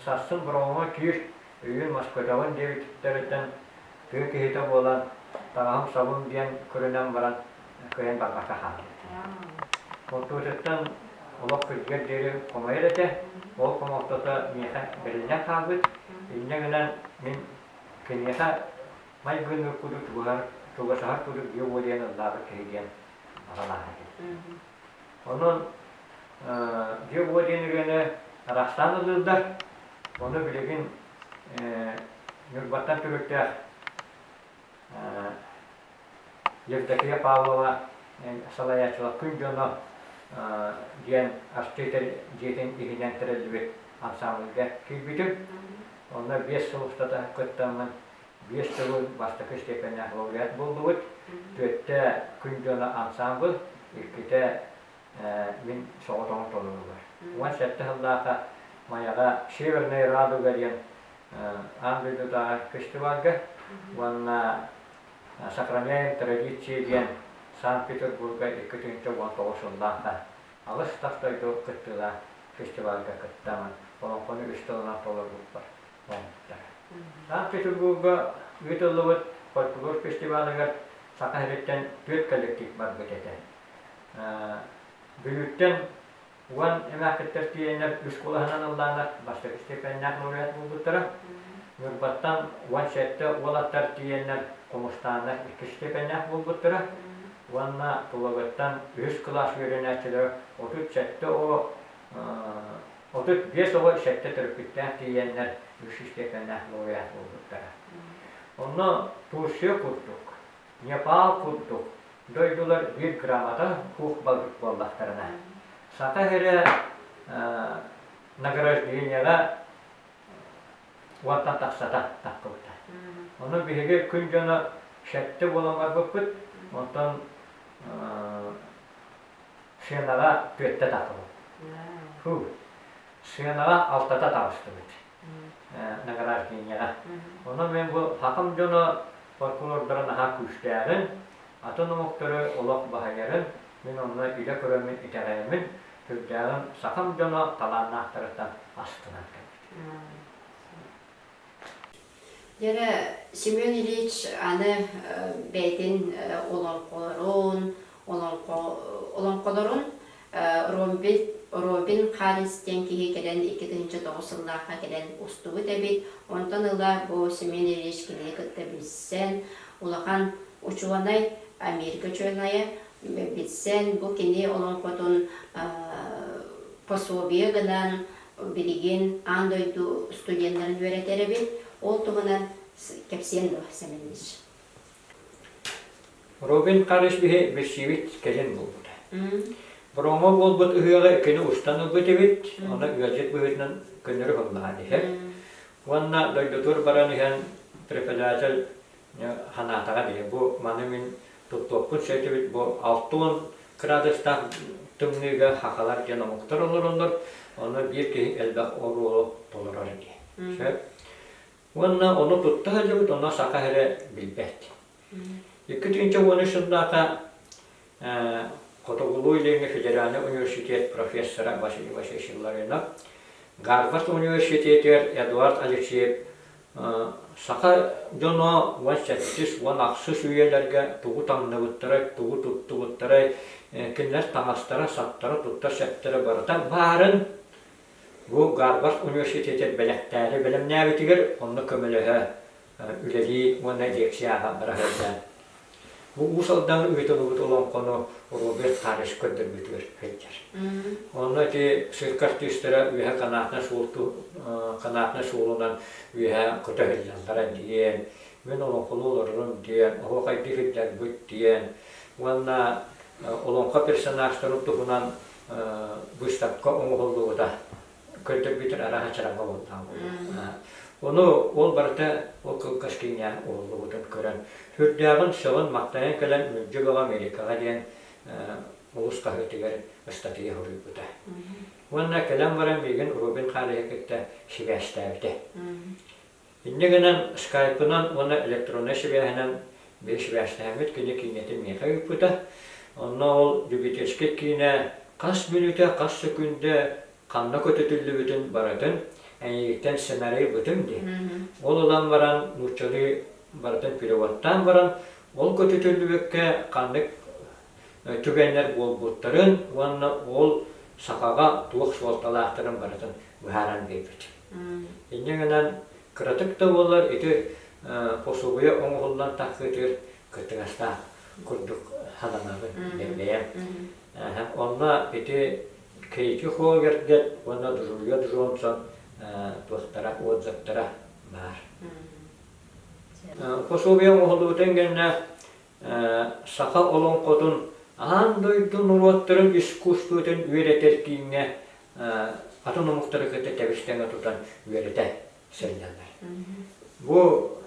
сарсын Бороҕоҥҥо киир, өйүүн Москватаҕын диэбиттэриттэн тыа киһитэ буолан, таҕаһым-сабым диэн көрүнэн баран, кыайан тарбахха хаампыт. Хортуочуттан олох күрдьүгэр диэри хомойор этэ, ол хомолтото миэхэ бэриллэн хаалбыт, инньэ гынан мин киниэхэ майгынныыр курдук чугасаһар курдук дьиэ уолуйан ыллаабыт киһи диэн аҕам ааһар этим. Онон дьиэ уол диэн ырыаны арахсаан ылыыллар, ону билигин Ньурбаттан түмүктээх Евдокия Павлова салайааччылар күн дьоно диэн артыытар дьиэтин иһинэн тэриллибит ансаамбылга киирбитим. Онно биэс сыл устата кыттаммын, биэс сылы бастакы степеннээх лауреат буллубут. Түөртэ күн дьоно ансаамбыл, иккитэ мин соҕотоҕун толоруулар. Уон сэттэ сыллаахха Майаҕа Северная радуга диэн аан дойдутааҕы фестивальга уонна Сохраняем традиции диэн Санкт-Петербурга икки тыһыынча уон тоҕус сыллаахха аҕыс тас дойду кыттыылаах фестивальга кыттамын, олоҥхону үс тылынан толорбуппар оҥоһуктара. Санкт-Петербурга ыытыллыбыт фольклор фестивалыгар Саха сириттэн түөрт коллектив барбыт этэ. Бүлүүттэн уон эмээхкиттэр тиийэннэр үс кулаһынан ыллаанар бастакы степеннээх лауреат буолбуттара. Ньурбаттан уон сэттэ уол аттар тиийэннэр Хомустааннар иккис степеннээх буолбуттара уонна Тулагыттан үһүс кылаас үөрэнээччилэрэ отут сэттэ оҕо отут биэс оҕо сэттэ төрөппүттээх тиийэннэр үс степеннээх лауреат буолбуттара. Онно Турция курдук Непал курдук дойдулар биир грамота пух-балык буоллахтарына, саха иһирэ награждениеҕа уонтан тахсата тахпыбыта. Ону биһиги күн дьоно шетте буолан барбыппыт, онтон сыанаҕа түөртэ тахпыпыт. Сыанаҕа алтата таҕыстыбыт. награждениеҕа. Онон мен бу хакым дьоно прокурордара наһаа күүстээҕин, атын омуктары олох баһыйарын мин онно илэ көрөммүн итэҕэйэммин, сүрдээҕин сахам дьоно талааннаахтарыттан астынан кэлбит. Дьэрэ Семен Ильич аны бэйэтин олоҥхолорун, олоҥхолорун Робин Харрис диэн киһи кэлэн икки тыһыынча тоҕус сыллаахха кэлэн устубут эбит. Онтон ыла бу Семен Ильич кинини кытта билсэн, улахан учуонай, Америка учуонайа, билсэн бу кини олоҥхотун пособие гынан билигин аан дойду студеннарын үөрэтэр эбит. Ол туһунан кэпсиэн дуо, Семен Ильич? Робин Харисбиһи билсибит кэлин булбута. Броҥо буолбут ыһыаҕы кини устан ылбыт эбит, онно ыалдьыт быһыытынан көннөрү холлаһан иһэр. Уонна дойдутугар баран иһэн преподаватель ханаатаҕа диye, бу маны мин туттуохпут сөйтүбүт, бу алтон кыраадыстаах тымныыга хахалар диэн омуктар олороннор, онно биир киһи элбэх оруолу толорор ди. Сөп. Уонна ону тутта сылдьыбыт, онно саха эрэ билбэт. Икки тыынча уон үс сыллаахха Хотугулуу Илиҥҥи федеральнай университет профессора Василий Васильевич Ларинов Гарвард университетыгар Эдуард Алексеев саха дьоно уон сэттис уон ахсыс үйэлэргэ тугу таҥныбыттарай, тугу туттубуттарай, кинилэр таҥастара, саптара, туттар-сэптэрэ барыта баарын Бу Гарвард университетыр бэлэхтээри бэлэмнээбитигэр онно көмөлөһө үлэлии уонна лекцияҕа быраһыардаан. Бу Уус Алдаҥҥа ыытыллыбыт олоҥхону Роберт Карыш көрдөрбүтүгэр сылдьар. Онно ити цирк артыыстара үөһэ канатнай суол канатнай суолунан үөһэ көтөһүллэллэрэ диэн, мин олоҥхону олорорум диэн, оһуохайдыы сылдьарбыт диэн уонна олоҥхо персонажтарын туһунан быыстапка оҥоһуллубута көрдөрбүтүн арааһа чараҥга уһуннаабыт. Ону ол барыта ол кылгас киҥҥээн уһуллубутун көрөн, сүрдээҕин сылын-махтайан кэлэн Мүлдьү бөҕө Америкаҕа диэн олус хаһыытыгар ыстатыйа хоруйбута. Уонна кэлэн баран миигин Робин Хаалиһы кытта сибээстээбитэ. Инньэ гынан, скайпынан уонна электроннай сибээһинэн бэрэсибээстээммит кини киинэтин миэхэ ыыппыта. Онно ол любительскай киинэ хас мүнүүтэ, хас сөкүүндэ ханна көтүтүллүбүтүн барытын эйиигиттэн сценарий ылбытым дии. Ол ылан баран нууччалыы барытын переводтаан баран, ол көтүтүллүбүккэ ханнык түгэннэр буолбуттарын уонна уол сахаҕа туох суолталаахтарын барытын быһааран биэрбит. Инньэ гынан, кыратык да буоллар ити усулуйа оҥоһуллан тахсыытыгар кыттыгастаах курдук сананабын, бэйэм. Онно ити Кэйти Холгердет уонна Друлья Джонсон туохтара, отзывтара баар. Пособие оҥоһуллубутун кэннэ саха олоҥхотун аан дойду норуоттарын искусствотын үөрэтэр кииҥҥэ атын омуктары кытта тэбистэнэ тутан үөрэтэ сылдьаллар. Бу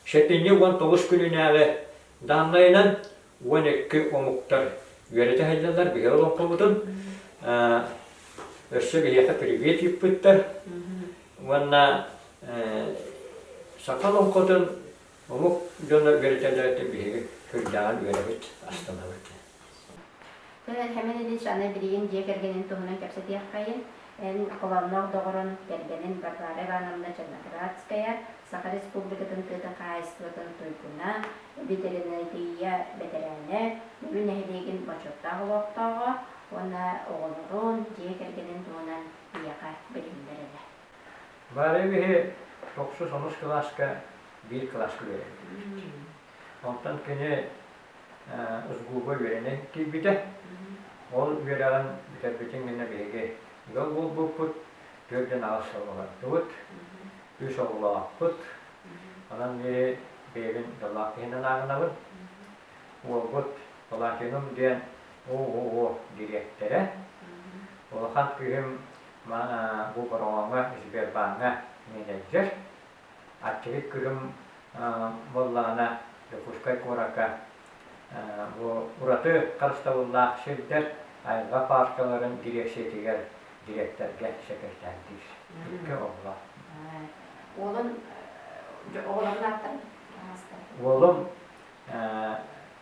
сэтинньи уон тоҕус күнүнээҕи дааннайынан уон икки омуктар үөрэтэ сылдьаллар биһиги олоҥхобутун. Өссө биһиэхэ привет ыыппыттар уонна саха олоҥхотун Омук дьоно үөрэтэллэриттэн биһиги Кырдьаҕын үөрэбит, астанабыт. Кэмэн Ильич аны билигин дьиэ кэргэнин туһунан кэпсэтиэххэйин, эн Холоонноох доҕорун, кэргэнин Варвара Ивановна Черноградская, Саха Республикатын тыатын хаһаайыстыбатын туйгуна, ветеринария бэтэрээнэ, Бүлүү нэһилиэгин бочуоттаах олохтооҕо уонна оҕолорун, дьиэ кэргэнин туһунан биһиэхэ билиһиннэрэрэ. Варя биһи тохсус-онус кылааска биир кылааска үөрэттибит. Онтон кини СГУ-га үөрэнэн киирбитэ. Ол үөрэҕин бүтэрбитин гэнэ биһиги ыал буолбуппут, түөрт дьон аҕыс оҕолордубут, үс оҕолоохпут. Онон биһи бэйэбин даллаах киһинэн ааҕынабын. Уолбут Палатинум диэн ООО дириэктэрэ. Улахан кыыһым Маны бу бороҕоҥҥо, Сбербааҥҥа мэлэйдэр. Аччыгый Кырым буоллаҕына, Дьокуускай куоракка бу ураты харыстабыллаах сирдэр айылҕа пааркаларын дириэксийэтигэр дириэктэргэ сэкирэтээрдиир. Икки оҕолоох. Уолун оҕолорун ааттан? Уолум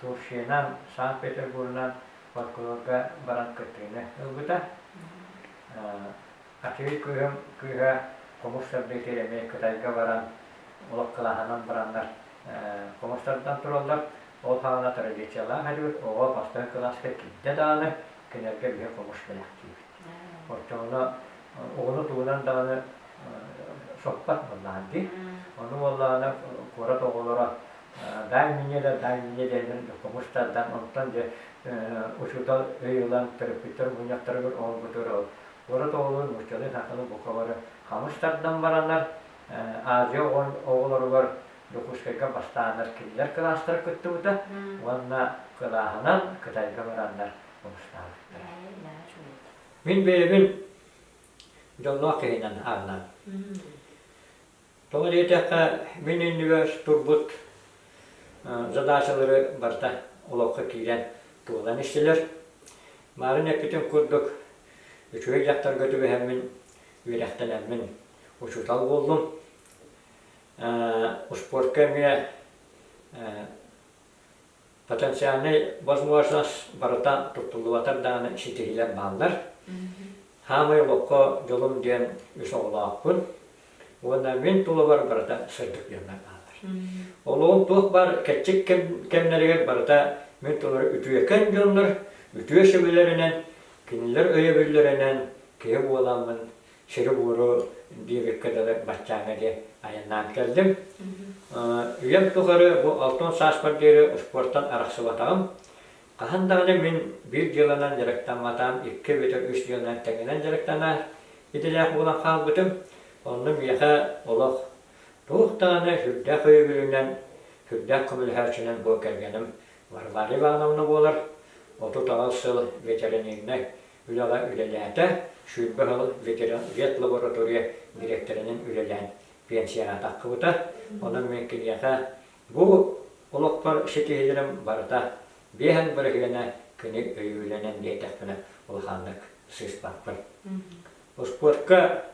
Турфьянан, Санкт-Петербурунан фольклорга баран кыттыыны ылбыта. Аччыгый кыыһым кыыһа хомус сардыытыгар эмиэ Кытайга баран, олох кылааһынан бараннар хомустардан тураллар. Ол хаана традициялаах этибит, оҕо бастыҥ кылааска киирдэ даҕаны, кинилэргэ биһи хомус бэлэхтиибит. Оччоҕуна оҕону тугунан даҕаны соппот буоллаҕын дии. Ону уоллаана куорат оҕолоро Дай мне да, дай мне дэнин кумустардан, онтон дьэ учуутал өй ылан төрөппүттэр мунньахтарыгар оҥорбутугар ол урут оҕолору нууччалыы саахтаны буквалары хамыс тардан баранар, Азия оҕолоругар Дьокуускайга бастааннар кинилэр кылаастара кыттыбыта уонна кылааһынан Кытайга бараннар хомустаабыттара. Мин бэйэбин дьоллоох киһинэн ааҕынам. Тоҕо диэтэххэ, мин иннибэр турбут задачалары барыта олоххо киирэн туолан истилэр. Марын эппитин курдук, үчүгэй дьахтарга түбэһэммин, үөрэхтэнэммин учуутал буоллум. Успуорка эмиэ потенциальнай возможность барыта туттуллубатар даҕаны ситиһиилэр бааллар. Саамай олоххо дьолум диэн үс оҕолоохпун уонна мин тулабар барыта сырдык диэннэр бааллар. Олоҕум туох баар кэччик кэмнэригэр барыта мин тулары үтүөкэн дьоннор үтүө сөбүлэринэн, кинилэр өйөбүллэринэн киһи буоламмын сиру-буору биир ыкка дылы баччааҥҥа диэн айаннаан кэллим. Үйэм тухары бу алтан сааспар диэри успуортан арахсыбатаҕым. Хаһан даҕаны мин биир дьыаланан дьарыктамматаҕым, икки эбэтэр үс дьыаланан тэҥинэн дьарыктанар идэлээх буолан хаалбытым. Онно миэхэ олох туох даҕаны сүрдээх өйөбүлүнэн, сүрдээх көмөлөһөөччүнэн буол кэргэним Варвара Ивановна буолар. Отут аҕыс сыл ветеринарнай Үлэҕэ үлэлээтэ, сүүрбэ сыл ветлаборатория дириэктэринэн үлэлээн пенсияҕа тахсыбыта. Онон мин киниэхэ бу олохпор ситиһиилэрим барыта биэһэн быраһыана күнү өйүүлэнэн биэрдэхпинэ улаханнык сыыспаппын. Успуорка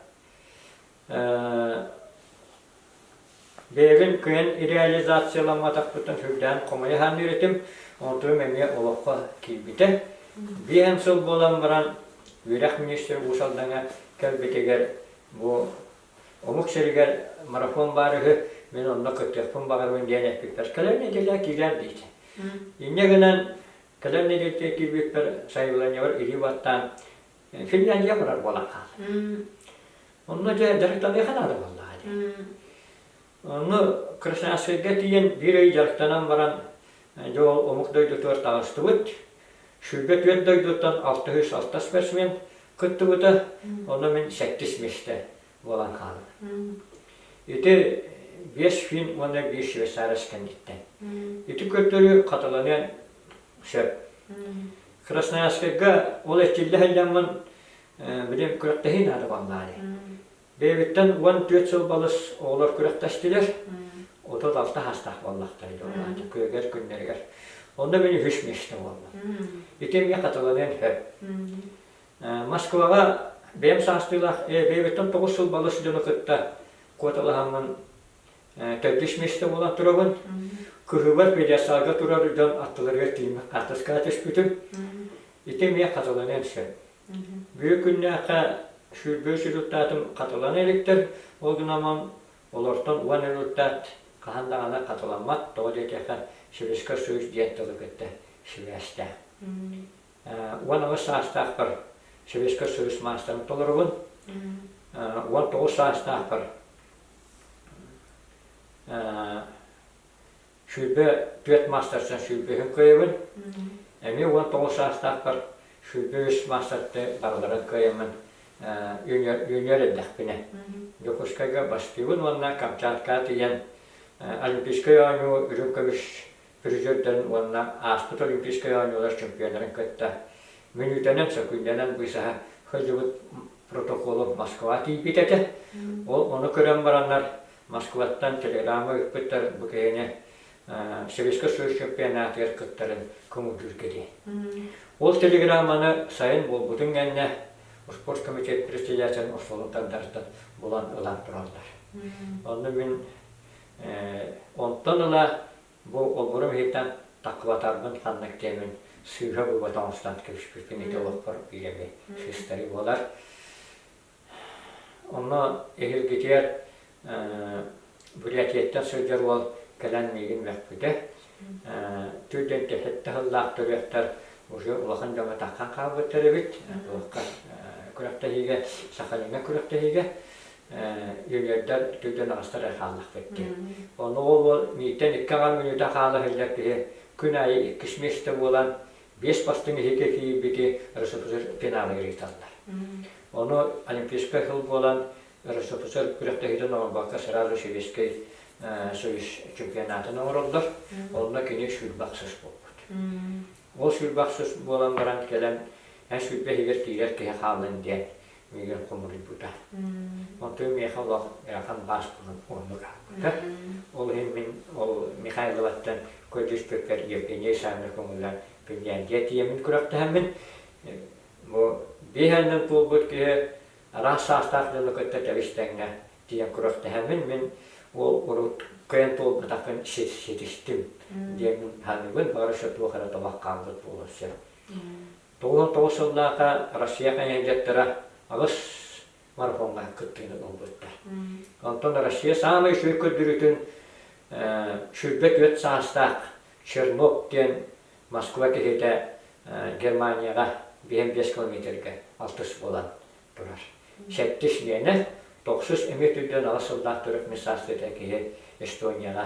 Бэйэбин кыһын реализацияламматахпыттан сүрдээн хомойо аһаанныыр этим. Онтубум эмиэ олоххо киирбитэ. Биир эн сыл буолан баран үөрэх министрэ Уусалдаҥа кэлбитигэр бу омук сиригэр марафон баар үһү, мин онно кыттыахпын баҕарабын диэн эппиппэр кэлэр нэдиэлэ киирэр диэтэ. Инньэ гынан кэлэр нэдиэлэ киирбиппэр сайыланньабар илии баттаан Финляндия курар буолаха. Онно дьэ дьарыктаныаха наада буоллаха дьэ. Ону Красноярскайга тиийэн биир ый дьарыктанан баран дьэ ол омук дойдутугар таҕыстыбыт. Шүлбэ түөрт дойдуттан алтыһыыс алта спортсмен кыттыбыта. Ону мин сэттис миэстэ буолан хаалар. Ити биэс фильм уонна биир Швейцарец кэнниттэн. Ити көрдөрүү хатыланыан сөп. Красноярскайга ол эчиллэ сылдьаммын билим күрэхтэһии наада бааллааны. Бэйэбиттэн уон түөрт сыл балыс оҕолор күрэхтэстилэр. Отот алта хаастаах буоллахтар ити олаата күөгэр күннэригэр. Онно мин үһүс миэстэ буолла. Ити эмиэ хатыланыан сөп. Москваҕа бэйэм саастыылаах бэйэбиттэн тоҕус сыл балыс дьону кытта куоталаһаммын төрдүс миэстэ буолан турабын. Кыһыбар педьясаага турар дьон аттыларыгар тиийиммин хартыскаҕа түспүтүм. Ити эмиэ хатыланыан сөп. Бүгүн күннээххэ сүүрбүс результатым хатылана иликтэр, ол гынан олортон уон результат хаһан даҕаны хатыламмат, тоҕо диэтиэхэ Советскай Союз диэн тылы кытта сибээстээх. уон аҕыс саастаахпар Сэбиэскэй Союз маастарын толоробун. Уон тоҕус саастаахпар сүүрбэ түөрт маастартан сүүрбэһин кыайабын. Эмиэ уон тоҕус саастаахпар сүүрбэ үс маастарды барыларын кыайаммын үүнүөр эрдэхпинэ. Дьокуускайга бастыыбын уонна Камчаткаҕа тиийэн Олимпийскай оонньуу үрүҥ көмүс Призердарын уонна ааспыт Олимпийскай оонньуулар чемпионнарын кытта мүнүүтэнэн, сөкүллэнэн быысаһа сылдьыбыт Протоколов Москва тиийбит этэ. Ол ону көрөн бараннар, Москваттан телеграмма ыыппыттар бу киһини Советскай Союз чемпионатыгар кыттарын көҥүллүүргэ дии. Ол телеграмманы сайын буолбутун кэннэ спорт комитет председателин остуолун тардарыттан булан ылан тураллар. Онно мин Онтон ыла бу обуру ыһыытан тахлатарбын ханна кэтэбин, сыыһа-быба тоҥустан кэбиспиппин ити олохпор биир эмэ сыыстарыы буолар. Онно эһиргитигэр Бурятияттан сылдьар уол кэлэн миигин мөхпүтэ. Түүрдэн тэһэтtä сыллаах төрүөхтэр уже улахан дьоҥҥо таххан хаалбыттар эбит. Туохха күрэхтэһиигэ, Сахалиҥҥа күрэхтэһиигэ. Юниордар үрдүттэн аҕыстар эрэ хааллахпыттыы. Ону ол миитэн икки аҕа мүнүүтэ хаала иһиллэр киһи күн аайы иккис миэстэ буолан, биэс бастыҥ иһити тиийбити РСФСР финалыгар ыыталлар. Ону Олимпийскай сыл буолан, РСФСР күрэхтэһиитин оҥорбокко сразу Советскай Союз чемпионатын оҥороллор. Онно кини сүүрбахсыс буолбут. Ол сүүрбахсыс буолан баран кэлэн, эн сүүрбэ иһигэр тиирэр киһи хааллын диэн миигин хомуруйбута. Оттон миэхэ олох Хан Баашпылын оннук ааппыта. Ол иһин мин ол Михайловаттан көрдөспүппэр Евгения Исаевна көҥүллэн Пинляндия тиийэммин күрэхтэһэммин бу биир аанынан туолбут киһи араас саастаах дьону кытта тэбистэҥҥэ тиийэн күрэхтэһэммин мин ол урут кыайан туолбатахпын ситистим диэммин саныыбын бары туох эрэ табах хаалбыт буолан сөп Тоҕуһа тоҕус сыллаата Россия хайыһардьыттара аҕыс марафоҥҥа кыттыыны ылбыттар. Онтон Россия саамай үчүгэй көрдөрүүтүн сүүрбэ түөрт саастаах Чернов диэн Москва киһитэ Германияҕа биэһин биэс километргэ алтыс буолан турар. Сэттис миэнэ, тохсус эмиэ түрдэн аҕыс сыллаах төрүт мисс Австрия киһи Эстонияҕа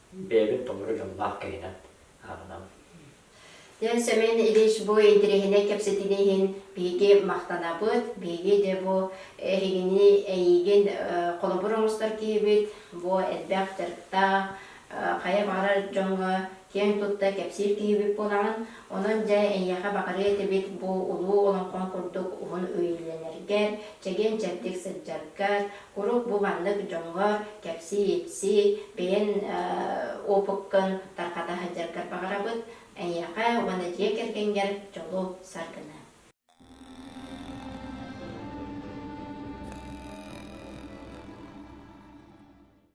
бэйэбин толору дьоллоох киһинэн ааҕынам. Семен Ильич бу интэриэһинэй кэпсэтиини иһин биһиги махтанабыт. Биһиги де бу эһигини эйиигин холобур оҥостор киһибит, бу элбэх дьарыктаах, хайа баҕарар дьоҥҥо киэҥ тутта кэпсиир киһибит буолаҕын. Онон дьэ эйиэхэ баҕарыа этибит бу улуу олоҥхоҥ курдук уһун үөйүүлэнэргэр, чэгиэн-чэбдик сылдьаргар, Куруук бу маннык дьоҥҥо кэпсии-ипсии, бэйэн опыккын тарҕата сылдьаргар баҕарабыт, эйиэхэ уонна дьиэ кэргэҥгэр дьолу, саргыны.